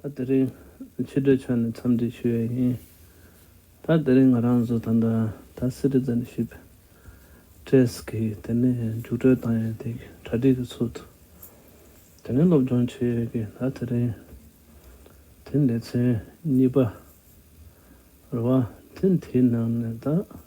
ད་དེ་རིང་ཕྱི་དྲོའི་ཆ་ནས་འཚམས་འདྲི་ཞུ་ཡས་ཡིན། ད་དེ་རིང་ང་རང་ཚོ་ད་ལྟ་ད Citizenship Test གི་དེ་ནས་རྒྱུགས་སྤྲོད་བཏང་ཡས་དེ་གི་གྲ་སྒྲིག་གི་ཚུལ་དུ་དེ་ནས་སློབ་སྦྱོང་བྱེད་ཡས་ཀི་ད་དེ་རིང་དེ་ལས་ཚན་གཉིས་པ་རེད་བ། དེ་དེའི་ནང་ནས་ད་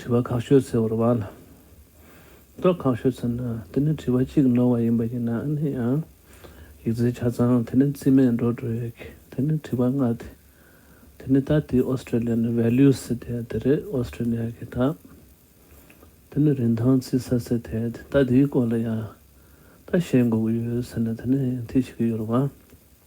དྲི་བ་ཁག་ཤོད་ཚེ་བོར་བ་ལ་རྟོག་ཁག་ཤོད་ཚེ་ན་དེ་ནི་དྲི་བ་གཅིག་ནོར་བ་ཡིན་པ་ཡིན་ན་ནི་ཡང་ཡིག་རྩལ་ཆ་ཚང་དེ་ནི་རྩིས་མེད་འགྲོ་འགྲོ་ཡོད་ཀི་དེ་ནི་དྲི་བ་ལྔ་དེ་དེ་ནི་ད་ལྟའི Australian values དེ་དེ་རེད Australia གི་དག་དེ་ནི་རིན་ཐང་རྩིས་ས་ཚེ་དེ་དེ་ད་དེའི་སྐོར་ལ་ཡང་ད་བཤད་འགོ་གི་ཡོད་ཟེར་ན་དེ་ནི་དེ་ཤི་གི་ཡོད་རེད་བ།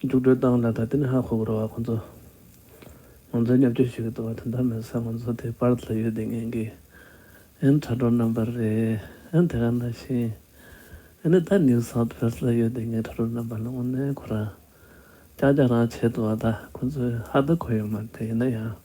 མཇུག་སྒྲིལ་སྟངས་ལ་ད་ལྟའི་ནས་ཧ་གོ་དགོས་ར་བ་ཁོང་ཚོ། ང་ཚོའི་ཉབ་སྐྱོར་ཞུ་གི་འདུག་བ་དོན་དག་མེད་ས་ང་ཚོ་དེ་པར་ལ་ཡོད་དེ་ངན་གི། ཨན་དྲ་གྲོགས་རྣམ་པར་རེད་ཨན་དེ་ག་ན་ཤེས། ཨན་ནི་ད་ནིའུ་སའུཐ་བྷེལས་ལ་ཡོད་དེ་ངན་དྲ་གྲོགས་རྣམ་པར་ལ་དངོས་གནས་གོ་ར། ཀྱག་ཀྱག་རང་བྱས་འདུག་བ་ད་ཁོང་ཚོས་ཧ་ད་གོ་ཡོད་མ་རེད་ཡིན་ན་ཡང།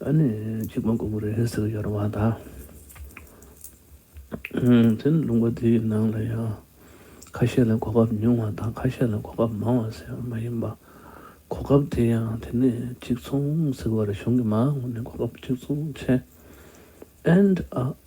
ཨ་ནི་གཅིག་མ་གོ་བོ་རེད་ཟེར་ཡོད་རེད་བ་ད། དེ་ནི་ལུང་པ་དེ་ཡི་ནང་ལ་ཡང་ཁ་ཤས་ལ་གོ་སྐབས་ཉུང་བ་དང་ཁ་ཤས་ལ་གོ་སྐབས་མང་བ་ཟེར་བ་མ་ཡིན་པ། གོ་སྐབས་དེ་ཡང་དེ་ནི་གཅིག་མཚུངས་ཟེར་བ་རེད་གཞུང་གི་མ་དངུལ་ནི་གོ་སྐབས་གཅིག་མཚུངས་ཆེ། ཨན།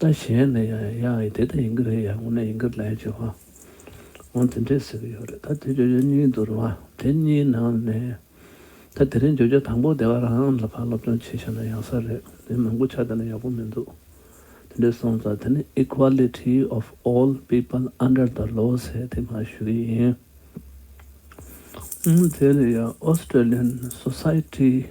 ད་གཞན་ནས་ཡང་ཡང་ཡང་དེ་ལྟར་ཡིན་གྱི་རེད་ཡང་ངོ་ནས་ཡིན་གྱི་རེད་ཅེས་བ་འོང་དེ་འདྲས་ཟེར་གྱི་ཡོད་རེད་ད་དེ་བརྗོད་བྱ་གཉིས་འདུག་རེད་བ་དེ་གཉིས་ནང་ནས་ད་དེ་རིང་བརྗོད་བྱ་དང་པོ་དེ་བ་རང་ལ་ཕར་སློབ་སྦྱོང་བྱེད་ཤེས་ན་ཡག་ས་རེད་དེ་མང་པོ་ཆ་བལྟས་ན་ཡག་པོ་མི་འདུག་དེ་འདྲས་སོང་ཙང་དེ་ནི Equality of All People Under the Law ཟེར་དེ་མ་ཞུ་གི་ཡིན། དེ་ལ་ཡང Australian Society།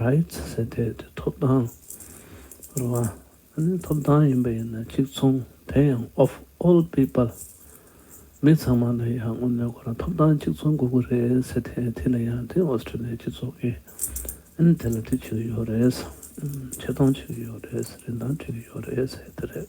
Rights ཟེར་དེ་དེ་ཐོབ་ཐང་རེད་བ། ཨནི་ཐོབ་ཐང་ཡིན་པ་ཡིན་ན་གཅིག་མཚུངས་དེ་ཡང of all people མི་ཚང་མ་ལ་ཡང་དངོས་གནས་ཁོ་རང་ཐོབ་ཐང་གཅིག་མཚུངས་དགོས་ཀི་རེད་ཟེར་དེ་དེ་ལ་ཡང་དེ Australia སྤྱི་ཚོགས་ཀི་ཨནི་དེ་ལ་དེ་བྱུས་ཡོད་རེད། ཆེ་མཐོང་བྱུས་ཡོད་རེད། རིན་ཐང་བྱུས་ཡོད་རེད་ཟེར་དེ་རེད།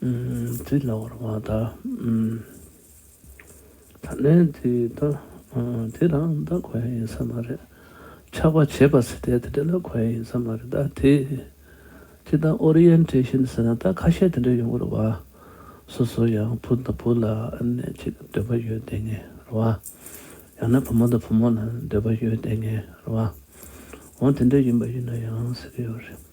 དུས་ལ་བར་བ་དག། ད་ནས་དུས་དེ་རང་ད་གོ་ཡ་ཡིན་ས་མ་རེད། ཆགས་པ་བྱེད་པ་ཟེར་དེ་དེ་འདྲ་ལ་གོ་ཡ་ཡིན་ས་མ་རེད་ད་དེ། ཅི་ད Orientation ཟེར་ན་ད་ཁ་ཤས་དེ་འདྲ་ཡོང་གི་རེད་བ། སོ་སོ་ཡང་བུ་དང་བུ་ལ་ནས་ཅིག་འདོད་པ་ཡོད་དེ་ངེས་རེད་བ། ཡང་ན་བུ་མོ་དང་བུ་མོ་ལ་འདོད་པ་ཡོད་དེ་ངེས་རེད་བ། འོ་དེ་འདྲ་ཡིན་པ་ཡིན་ན་ཡང་ཟེར་གི་ཡོད་རེད།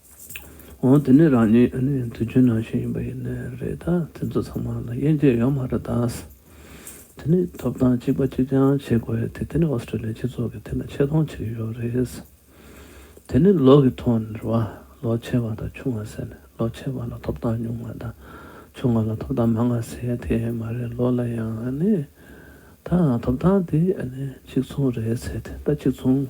འོ་དེ་ནི་རང་ཉིད་ཨ་ནེའི་དུས་རྒྱུན་ནང་བཞིན་ཡིན་པ་ཡིན་ནི་རེད་ད་དེ་ཚོ་ཚང་མ་ལ་དབྱེ་འབྱེད་ཡོད་མ་རེད་དཱ། དེ་ནི་ཐོབ་ཐང་གཅིག་པ་གཅིག་རྐྱང་བྱེད་དགོས་དེ་དེ་ནི་ཨོ་སི་ཀྲི་ལི་སྤྱི་ཚོགས་ཀྱི་ཐད་ན་ཆེ་མཐོང་བྱེད་ཀྱི་ཡོད་རེད། དེ་ནི་ལོ་གི་ཐོག་ནས་རེད་བ་ལོ་ཆེ་བ་དང་ཆུང་བ་ཟེར་ནས་ལོ་ཆེ་བ་ལ་ཐོབ་ཐང་ཉུང་བ་དང་ཆུང་བ་ལ་ཐོབ་ཐང་མང་བ་ཟེར་ཡ་དེ་མ་རེད་ལོ་ལ་ཡང་ཨ་ནེ་དང་ཐོབ་ཐང་དེ་ཨ་ནེ་གཅིག་མཚུངས་རེད་ཟེར་དེ་ད་གཅིག་མཚུངས་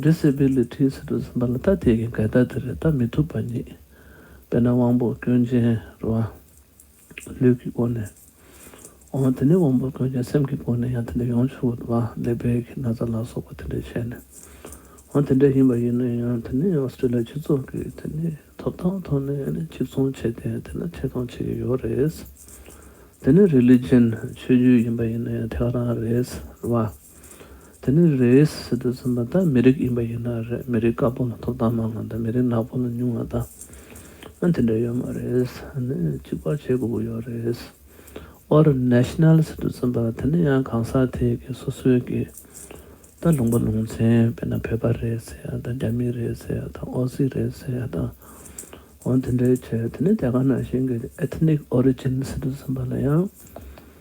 འདི་བསད་པའི་ལས་ཁྲིའི་ཟེར་དུ་ཟིན་པ་ལ་ད་དེ་གི་འགལ་ཟླ་དེ་རེད་ད་མི་ཐུབ་པ་ཉིད། དཔེར་ན་དབང་པོ་སྐྱོན་ཅན་རུ་བ། ལུས་ཀྱི་སྒོ་ནས་འོང་བ་དེ་ནི་དབང་པོ་སྐྱོན་ཅན་སེམས་ཀྱི་སྒོ་ནས་ཡང་དེ་འདྲ་ཡོང་ཆུག་བ་ལས་བལ་གྱི་ན་ཚ་ལ་སོགས་པ་དེ་འདྲས་བྱས་ནས་འོང་དེ་འདྲས་ཡིན་པ་ཡིན་ན་ཡང་དེ་ནི་ཨོསྟྲེ་ལི་ཡ་སྤྱི་ཚོགས་ཀྱི་དེ་ནི་ཐོབ་ཐང་ཐོག་ནས་གཅིག་མཚུངས་བྱས་ཏེ་དེ་ནི་ཐད་གཏོང་བྱེད་ཀྱི་ཡོད་རེད། དེ་ནི་རེ་ལི་རྗེན་ཆོས་བརྒྱུད་ཡིན་པ་ཡིན་ན་ཡང་ཐད་ཀ་རང་རེད་བ། དེ་ནི་རེས་ཟེར་དུ་ཟིན་པ་དག་མི་རིགས་ཡིན་པ་ཡིན་ན་རེད་མི་རིགས་དཀར་པོ་ལ་ཐོབ་ཐང་མང་བ་དང་མི་རིགས་ནག་པོ་ལ་ཉུང་བ་དང་དེ་འདྲ་ཡོད་མ་རེད་ནི་གཅིག་པར་བྱེད་དགོས་ཀྱི་ཡོད་རེད། དབར National ཟེར་དུ་ཟིན་པ་དེ་ནི་ཡང་གང་ཟག་དེ་གི་སོ་སོའི་གི་དང་ལུང་པ་ལུང་ཚན་དཔེར་ན་བོད་པ་རེད་ཟེར་ཡ་དང་རྒྱ་མི་རེད་ཟེར་ཡ་དང་ཨོ་སི་རེད་ཟེར་ཡ་དང་འོ་དེ་འདྲའི་ཆེད་དེ་ནི་རྒྱ་གར་ནང་བཞིན་གྱི Ethnic Origin ཟེར་དུ་ཟིན་པ་ལ་ཡང།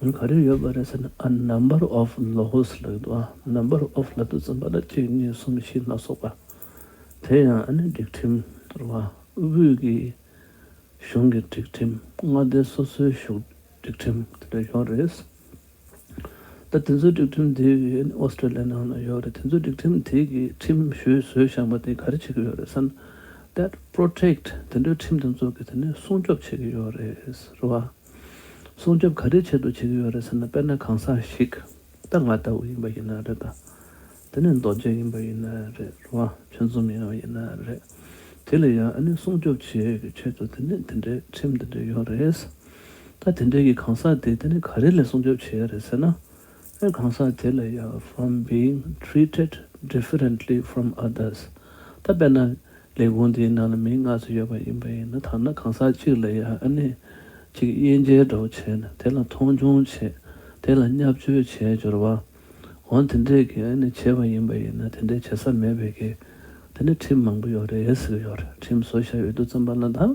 ག་རེ་ཡོད་པ་རེད་ཟེར་ན་ཨ Number of Laws ལ་ཡོད་འདུག་ཨ Number of ལ་དུས་ཚོད་འབའ་ལ་གཅིག་གཉིས་གསུམ་བཞི་ལྔ་སོགས་པ། དེ་ཡང་ཨ་ནི་སྒྲིག་ཁྲིམས་དོར་བ་དབུས་ཀྱི་གཞུང་གི་སྒྲིག་ཁྲིམས་མངའ་སྡེ་སོ་སོའི་བཞུགས་སྒྲིག་ཁྲིམས་དེ་འདྲ་ཡོད་རེད། ད་དེ་ཚོའི་སྒྲིག་ཁྲིམས་དེ་ཨ་ནི Australia ནང་ན་ཡོད་རེད་དེ་ཚོའི་སྒྲིག་ཁྲིམས་དེ་གི་ཁྲིམས་ཞུས་སྲོལ་བཞག་པ་དེ་ག་རེ་བྱེད་ཀྱི་ཡོད་རེད་ཟེར་ན Debt Protect དེ་འདྲའི་ཁྲིམས་དེ་ཚོ་གི་དེ་ནི་སྲུང་སྐྱོབ་བྱེད་ཀྱི་ཡོད་རེད་ཟེར་བ། སྲུང་སྐྱོབ་ག་རེའི་ཆེད་དུ་བྱེད་ཀྱི་ཡོད་རེད་ཟེར་ན་དཔེར་ན་གང་ཟག་ཞིག་ད་ང་ལྟ་བུ་ཡིན་པ་ཡིན་ན་རེད་ད། དེ་ནས་རྡོ་རྗེ་ཡིན་པ་ཡིན་ན་རེད་བ་ཆོས་འཛོམས་ཡིན་བ་ཡིན་ན་རེད། དེ་ལ་ཡང་ཨ་ནི་སྲུང་སྐྱོབ་བྱེད་ཡོད་ཀྱི་ཆེད་དུ་དེ་ནས་དེ་འདྲའི་ཁྲིམས་དེ་འདྲའི་ཡོད་རེད། ད་དེ་འདྲའི་གི་གང་ཟག་དེ་དེ་ནི་ག་རེ་ལས་སྲུང་སྐྱོབ་བྱེད་ཡོད་རེད་ཟེར་ན། ཨེ་གང་ཟག་དེ་ལས་ཡང from being treated differently from others ད་དཔེར་ན་ལས་ཁུངས་འདིའི་ནང་ལ་མི་ལྔ་སུ་ཡོད་པ་ཡིན་པ་ཡིན་ན་ཐ་ན་གང་ཟག་གཅིག་ལས་ཡང་ཨ་ནི་གཅིག་དབྱེ་འགྱེལ་སྒྲོག་བྱས་ནས་དེ་ལ་མཐོང་ཆུང་བྱེད་དེ་ལ་བསྙབ་བཅོལ་བྱས་སྦྱོར་བ་འོང་དེ་འདྲས་ཀྱི་ཨེ་ནི་བྱེད་པ་ཡིན་པ་ཡིན་ན་དེ་འདྲས་བྱེད་ས་མེད་པའི་གེ་དེ་ནི་ཁྲིམས་མང་པོ་ཡོད་རེད་ཟེར་གི་ཡོད་རེད་ཁྲིམས་བཟོ་བྱ་ཡུལ་དུ་བརྩམས་པ་ལ་དང་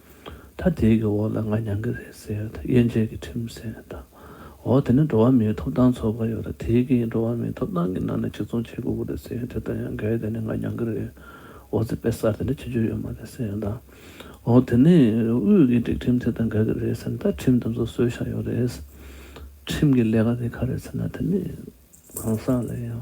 ད་དེའི་གི་འོག་ལ་ང་མྱང་གི་རེད་ཟེར་ད་དབྱེ་འབྱེད་གི་ཁྲིམས་ཟེར་ད། འོ་དེ་ནི་འགྲོ་བ་མིའི་ཐོབ་ཐང་ཚོགས་པ་ཡོད་ད་དེའི་གི་འགྲོ་བ་མིའི་ཐོབ་ཐང་གི་ནང་ནས་གཅིག་མཚུངས་བྱེད་དགོས་གི་རེད་ཟེར་དེ་ལྟར་ཡང་འགལ་དེ་ནི་ང་མྱང་གི་རེད་འོ་ཚེ་དཔེ་གསར་དེ་འདྲ་བྱེད་རྒྱུ་ཡོད་མ་རེད་ཟེར་ད། འོ་དེ་ནི་དབུས་གི་སྒྲིག་ཁྲིམས་དེ་དང་འགལ་གི་རེད་ཟེར་ན་ད་ཁྲིམས་དེ་ཚོ་སྲོལ་བཞག་ཡོད་རེད། ཁྲིམས་གི་ལས་ཀ་དེ་ག་རེད་ཟེར་ན་དེ་ནི་གང་ཟག་ལ་ཡང།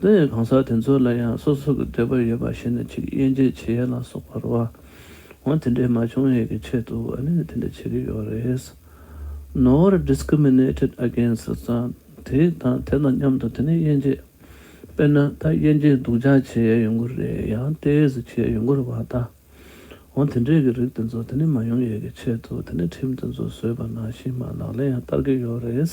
འདི་ཡང་གང་ཟག་དེ་ཚོ་ལ་ཡང་སོ་སོ་གི་འདོད་པ་ཡོད་པ་ཞིག་ནས་ཅིག་དབྱེ་འབྱེད་བྱེད་ཡ་ལ་སོགས་པར་བ་འོ་དེ་འདྲའི་མ་བྱུང་ཡས་ཀྱི་ཆེད་དུ་བ་ནས་དེ་འདྲ་བྱེད་ཀྱི་ཡོད་རེད། Nor discriminated against ཙང་དེ་དང་དེ་དང་མཉམ་དུ་དེ་ནི་དབྱེ་འབྱེད་དཔེར་ན་ད་དབྱེ་འབྱེད་སྡུག་ཅག་བྱེད་ཡས་ཡོད་མགུར་རེད་ཡང་དེས་བྱེད་ཡས་ཡོད་མགུར་བ་ད་འོ་དེ་འདྲའི་གི་རིགས་དེ་ཚོ་དེ་ནི་མ་ཡོང་ཡས་ཀྱི་ཆེད་དུ་དེ་ནི་ཁྲིམས་དེ་ཚོ་བཟོས་པ་ནང་བཞིན་མ་ལག་ལས་ཡང་བསྟར་གྱི་ཡོད་རེད།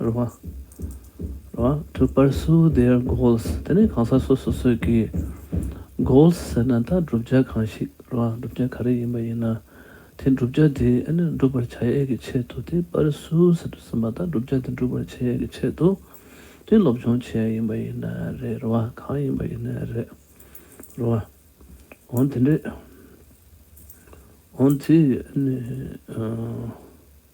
རུ་བ། རུ་བ། དྲུག་པར་སུའུ་དེར goals དེ་ནི་གང་ཟག་སོ་སོ་སོས་ཀྱིས goals ཟེར་ན་ད་བསྒྲུབ་བྱ་གང་ཞིག་རུ་བ་བསྒྲུབ་བྱ་ག་རེ་ཡིན་པ་ཡིན་ན་དེ་བསྒྲུབ་བྱ་དེ་འགྲུབ་པར་བྱ་ཡས་ཀྱི་ཆེད་དུ་དེ་པར་སུའུ་ཟེར་དུ་སོང་བ་ད་བསྒྲུབ་བྱ་དེ་འགྲུབ་པར་བྱེད་ཡས་ཀྱི་ཆེད་དུ་དེ་སློབ་སྦྱོང་བྱེད་ཡས་ཡིན་པ་ཡིན་ན་རེད་རུ་བ་གང་ཡིན་པ་ཡིན་ན་རེད། རུ་བ། འོང་དེ་འདྲས། འོང་དེ་ནི།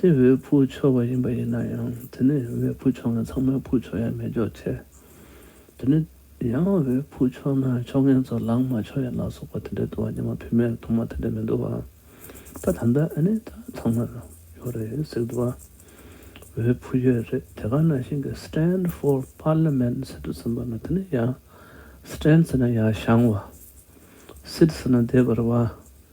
དེ་བས་ཕུགས་ཆོག་པ་ཡིན་པ་ཡིན་ན་ཡང་དེ་ནི་ཡང་བས་ཕུགས་ཆོག་ངན་ཚང་མའི་ཕུགས་ཆོག་ཡང་མེད་འཇོག་བྱེད། དེ་ནི་ཡང་བས་ཕུགས་ཆོག་ན་ཆོག་ངན་ཚོ་ལངས་མ་ཆོག་ཡ་ལ་སོགས་པ་དེ་འདྲའི་འདུ་བ་ཉི་མ་བུད་མེད་ཐོག་མ་དེ་འདྲའི་མི་འདུ་བ། ད་ད་ལྟ་ཨ་ནི་ད་ཚང་མར་ཡོད་རེད་ཟེར་གི་འདུ་བ། བས་ཕུགས་ཡོད་རེད་དེ་ག་ན་ཞིང་གི Stand for Parliament ཟེར་དུ་ཟིན་པ་ན་དེ་ནི་ཡང Stand ཟེར་ན་ཡང་བཤང་བ། Sit ཟེར་ན་བསྡད་པར་བ།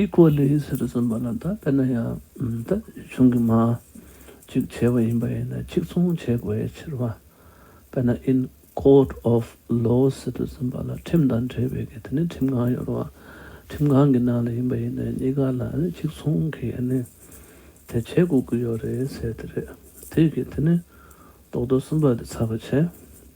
ཨི་གོ་ལི་ཟེར་བསམ་པ་ལ་ད་དཔེར་ན་ཡང་ད་བྱུང་གི་མ་གཅིག་བྱས་པ་ཡིན་པ་ཡིན་ན་གཅིག་མཚུངས་བྱེད་དགོས་ཡའི་ཕྱིར་བ་དཔེར་ན་ཨིན Court of Law ཟེར་དུས་བསམ་པ་ལ་ཁྲིམས་དང་འབྲེལ་བའི་གི་དེ་ནི་ཁྲིམས་ཁང་ཡོད་བ་ཁྲིམས་ཁང་གི་ནང་ལ་ཡིན་པ་ཡིན་ན་གཉིས་ཀ་ལ་གཅིག་མཚུངས་གི་ནི་དེ་བྱེད་དགོས་ཀི་ཡོད་རེད་ཟེར་དེ་རེད་དེ་གི་དེ་ནི་རྡོག་རྡོག་གསུམ་པ་དེ་ཚར་བ་བྱས་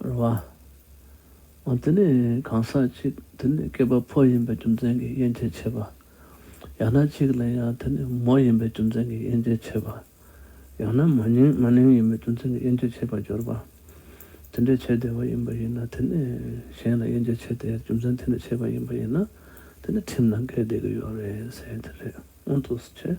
རེད། འོ་དེ་ནི་གང་ཟག་ཅིག་དེ་ནི་སྐྱེས་པ་ཕོ་ཡིན་པའི་རྒྱུ་མཚན་གྱིས་དབྱེ་འབྱེད་བྱེད་པ། ཡང་ན་ཅིག་ལ་ཡང་དེ་ནི་མོ་ཡིན་པའི་རྒྱུ་མཚན་གྱིས་དབྱེ་འབྱེད་བྱེད་པ། ཡང་ན་མ་ནིང་མ་ནིང་ཡིན་པའི་རྒྱུ་མཚན་གྱིས་དབྱེ་འབྱེད་བྱེད་པར་སྦྱོར་བ། དེ་འདྲའི་བྱེད་བདེ་བ་ཡིན་པ་ཡིན་ན་དེ་ནི་གཞན་ལ་དབྱེ་འབྱེད་བྱེད་བདེའི་རྒྱུ་མཚན་དེ་ནི་བྱེད་པ་ཡིན་པ་ཡིན་ན་དེ་ནི་ཁྲིམས་ལ་འགལ་བསྡད་ཀྱི་ཡོད་རེད་ཟེར་གྱི་རེད་སྔོན་དུ་བྱས།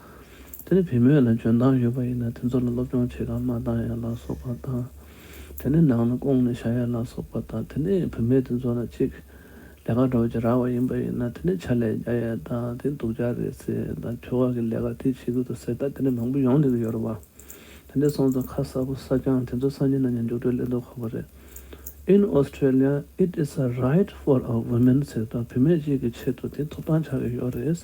དེ་ནི་བུ་མོས་ལ་འཇོན་ཐང་ཡོད་པ་ཡིན་ན་དེ་ཚོ་ལ་སློབ་སྦྱོང་བྱེད་ཁར་མ་བཏང་ཡ་ལ་སོགས་པ་དང། དེ་ནི་ནང་ན་སྐོང་ནས་བཞག་ཡ་ལ་སོགས་པ་དང་དེ་ནི་བུ་མོས་དེ་ཚོ་ལ་གཅིག་ལས་ཀ་འགྲོ་བྱེད་རག་བ་ཡིན་པ་ཡིན་ན་དེ་ནི་ཆ་ལས་རྒྱ་ཡ་དང་དེ་སྡུག་ཅག་རེད་ཟེར་དང་ཁྱོ་ག་གི་ལས་ཀ་དེ་བྱེད་གི་འདུག་ཟེར་ད་དེ་ནས་མང་པོ་ཡོང་ལེ་གི་ཡོད་རེད་བ། དེ་འདྲའི་སོང་ཚོ་ཁ་གསར་པོ་གསར་རྐྱང་དེ་ཚོ་སངས་རྒྱས་ན་ཉན་མཇུག་སྒྲོལ་ལེ་འདོག་ཁོ་པ་རེད། In Australia it is a right for a women ཟེར་ད་བུ་མོས་གཅིག་གི་ཆེད་དུ་དེ་ཐོབ་ཐང་ཆག་གི་ཡོད་རེད།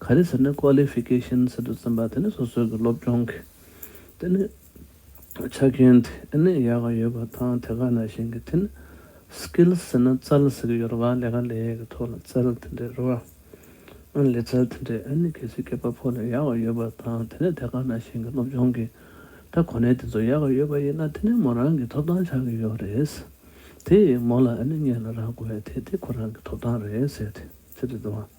ག་རེ་ཟེར་ནས Qualification ཟེར་དུ་བརྩིས་པ་དེ་ནི་སོ་སོའི་གི་སློབ་སྦྱོང་གི་དེ་ནི་ཆ་རྐྱེན་དེ་ནི་ཡག་གི་ཡོད་པ་དང་དེ་ག་ནང་བཞིན་གི་དེ་ནི Skills ཟེར་ན་རྩལ་ཟེར་གི་ཡོད་རེད་བ་ལས་ཀ་ལས་གི་ཐོག་ལ་རྩལ་དེ་འདྲས་རེད་བ། ཨ་ལས་རྩལ་དེ་འདྲས་ཨ་ནི་གལ་སྲིད་སྐྱེས་པ་ཕོ་ལ་ཡག་གི་ཡོད་པ་དང་དེ་ནི་དེ་ག་ནང་བཞིན་གི་སློབ་སྦྱོང་གི་ད་གོ་གནས་དེ་ཚོ་ཡག་གི་ཡོད་པ་ཡིན་ན་དེ་ནི་མོ་རང་གི་ཐོབ་ཐང་ཆགས་གི་ཡོད་རེད། དེ་ཡིས་མོ་ལ་ཨ་ནི་ངས་ལ་རག་དགོས་བས་དེ་དེ་ཁོ་རང་གི་ཐོབ་ཐང་རེད་ཟེར་དེ་ཚེ་རེད་བ།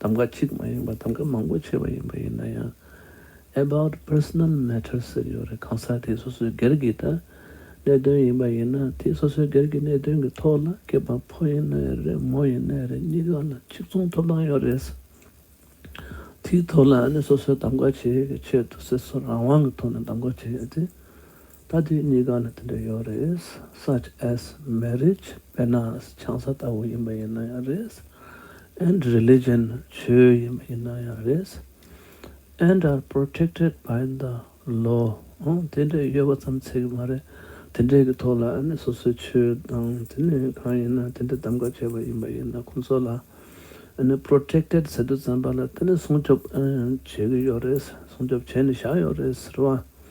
གདམ་ག་གཅིག་མ་ཡིན་པར་གདམ་ག་མང་པོ་བྱས་པ་ཡིན་པ་ཡིན་ན་ཡང About Personal Matter ཟེར་ཡོད་རེད་གང་ཟག་དེའི་སོ་སོའི་སྒེར་གྱི་ད་གནད་དོན་ཡིན་པ་ཡིན་ན་དེའི་སོ་སོའི་སྒེར་གྱི་གནད་དོན་གྱི་ཐོག་ལ་སྐྱེས་པ་ཕོ་ཡིན་ནའི་རེད་མོ་ཡིན་ནའི་རེད་གཉིས་ཀ་ལ་གཅིག་མཚུངས་ཐོབ་ཐང་ཡོད་རེད་ས་དེའི་ཐོག་ལ་ཨ་ནི་སོ་སོའི་གདམ་ག་བྱེད་ཡུལ་གྱི་ཆེད་དུ་སེར་སོ་རང་དབང་གི་ཐོག་ནས་གདམ་ག་བྱེད་ཡོད་དེ། ད་དུས་གཉིས་ཀ་ལ་དེ་འདྲ་ཡོད་རེད such as marriage དཔེར་ན་ཆང་ས་ལྟ་བུ་ཡིན་པ་ཡིན་ན་ཡང་རེད and religion ཆོས་ཡིན་པ་ཡིན་ན་ཡང་རེད and are protected by the law དེ་འདྲ་ཡོད་པ་ཙམ་ཚད་ཀྱི་མ་རེད་དེ་འདྲའི་གི་ཐོག་ལ་ནི་སོ་སོའི་ཆོས་དང་དེ་ནི་གང་ཡིན་ན་དེ་འདྲ་གདམ་ག་བྱས་པ་ཡིན་པ་ཡིན་ན་ཁོང་ཚོ་ལ་ནི protected ཟེར་དུས་བཙན་པ་ལ་དེ་ནི་སྲུང་སྐྱོབ་བྱེད་ཀྱི་ཡོད་རེད་སྲུང་སྐྱོབ་བྱས་ནས་བཞག་ཡོད་རེད་ཟེར་བ།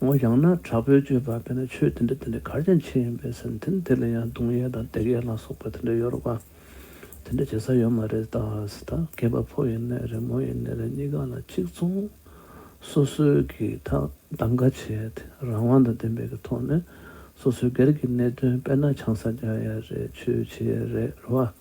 ངོ་ཡང་ན་དྲག་པོའི་སྤྱོད་པ་བས་ན་ཆོས་དེ་འདྲ་དེ་འདྲ་གར་ཀྱང་ཆེ་ཡིན་པས་སེམས་ཐིམ་དེ་ལ་ཡང་གདུང་ཡལ་དང་བརྡེག་ཡལ་ལ་སོགས་པ་དེ་འདྲ་ཡོད་རོགས་པ་དེ་འདྲ་བྱེད་ས་ཡོད་མ་རེད་ད་ཟེར་ད་གས་པ་ཕོ་ཡིན་ནས་རེད་མོ་ཡིན་ནས་རེད་གཉིས་ཀ་ལ་གཅིག་མཚུངས་སོ་སོའི་གི་གདམ་ག་བྱེད་རང་དབང་དང་བདེན་པའི་གི་ཐོག་ནས་སོ་སོའི་སྒེར་གི་གནད་དོན་དཔེར་ན་ཆང་ས་རྒྱག་ཡ་རེད་ཆོས་བྱེད་ཡ་རེད་རོ་བ།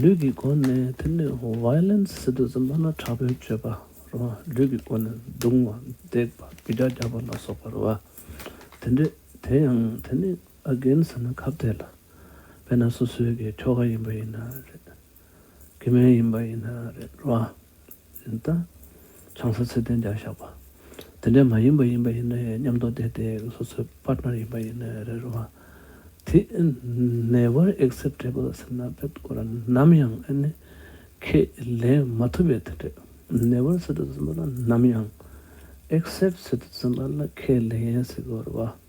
ལུས་ཀྱི་སྒོ་ནས་དེ་ནི Violence སྲིད་དུ་འཛིན་པ་ན་དྲག་པོའི་སྤྱོད་པ་རུ་བ། ལུས་ཀྱི་སྒོ་ནས་རྡུང་བ་བརྡེག་པ་རྒྱུ་ལྕགས་རྒྱག་པ་ལ་སོགས་པ་རུ་བ། དེ་འདྲས་དེ་ཡང་དེ་ནི Again ཟེར་ན་ཁབ་དེ་ལ་དཔེར་ན་སོ་སོའི་གི་ཁྱོ་ག་ཡིན་པ་ཡིན་ན་རེད། གི་མེན་ཡིན་པ་ཡིན་ན་རེད་རུ་བ། ཡིན་ལྟ། ཆང་ས་ཚད་ལྡན་རྒྱག་བཞག་པ། དེ་འདྲའི་མ་ཡིན་པ་ཡིན་པ་ཡིན་ནའི་ཉམས་རྟོགས་དེ་དེ་སོ་སོའི Partner ཡིན་པ་ཡིན་ནའི་རེད་རུང་བ། དེ Never Acceptable ཟེར་ན་དཔེ་དཀོན་ར་ནམ་ཡང་ཨེ་ནི། ཁས་ལེན་མ་ཐུབ་པའི་དེ་འདྲས Never ཟེར་དུ་འཛིན་པ་ལ་ནམ་ཡང Accept ཟེར་དུ་འཛིན་པ་ལ་ཁས་ལེན་ཟེར་དགོས་རུང་བ།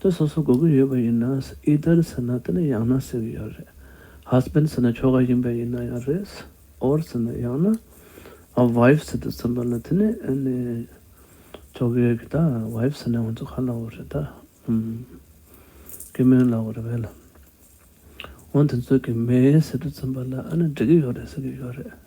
དེ་སོ་སོ་གོ་གི་ཡོད་པ་ཡིན་ན་ཨི་ཏར་ཟེར་ན་དེ་ནི་ཡང་ན་སྲིད་གི་ཡོད་རེད Husband ཟེར་ན་ཁྱོ་ག་ཡིན་པ་ཡིན་ན་ཡང་རེད Or ཟེར་ན་ཡང་ན Wife ཟེར་དུ་ཟིན་པ་ལ་དེ་ནི་ཨ་ནི་ཁྱོ་གའི་ཡོད་གི་ད Wife ཟེར་ན་ང་ཚོ་ག་ལ་འོ་རེད་ད་ཨུམ། གི་མོའི་ལ་འོ་རེད་བས་ལ་འོ་དེ་ཚོ་གི་མེའི་ཟེར་དུ་ཟིན་པ་ལ་ཨ་ནི་འགྲིག་གི་ཡོད་རེད་ཟེར་གི་ཡོད་རེད།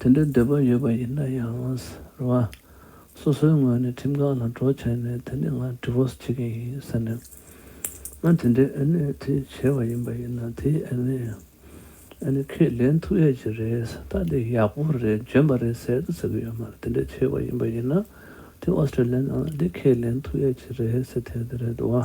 དེ་འདྲའི་འདོད་པ་ཡོད་པ་ཡིན་ན་ཡང་རེད་བ། སོ་སོའི་ངོས་ནས་ཁྲིམས་ཁང་ལ་གྲོ་བྱས་ནས་དེ་ནས་ང Divorce བྱེད་ཀྱི་ཡིན་ཟེར་ནས། ང་དེ་འདྲའི་ཨེ་ནི་དེ་བྱས་བ་ཡིན་པ་ཡིན་ན་དེ་ཨེ་ནི་ཨེ་ནི་ཁས་ལེན་ཐུབ་ཡས་ཀྱི་རེད་ད་དེ་ཡག་པོ་རེད་འཇོན་པ་རེད་ཟེར་དུ་ཟེར་གི་ཡོད་མ་རེད་དེ་འདྲའི་བྱས་བ་ཡིན་པ་ཡིན་ན་དེ Australia ནང་ལ་དེ་ཁས་ལེན་ཐུབ་ཡས་ཀྱི་རེད་ཟེར་ཐལ་གི་རེད་བ།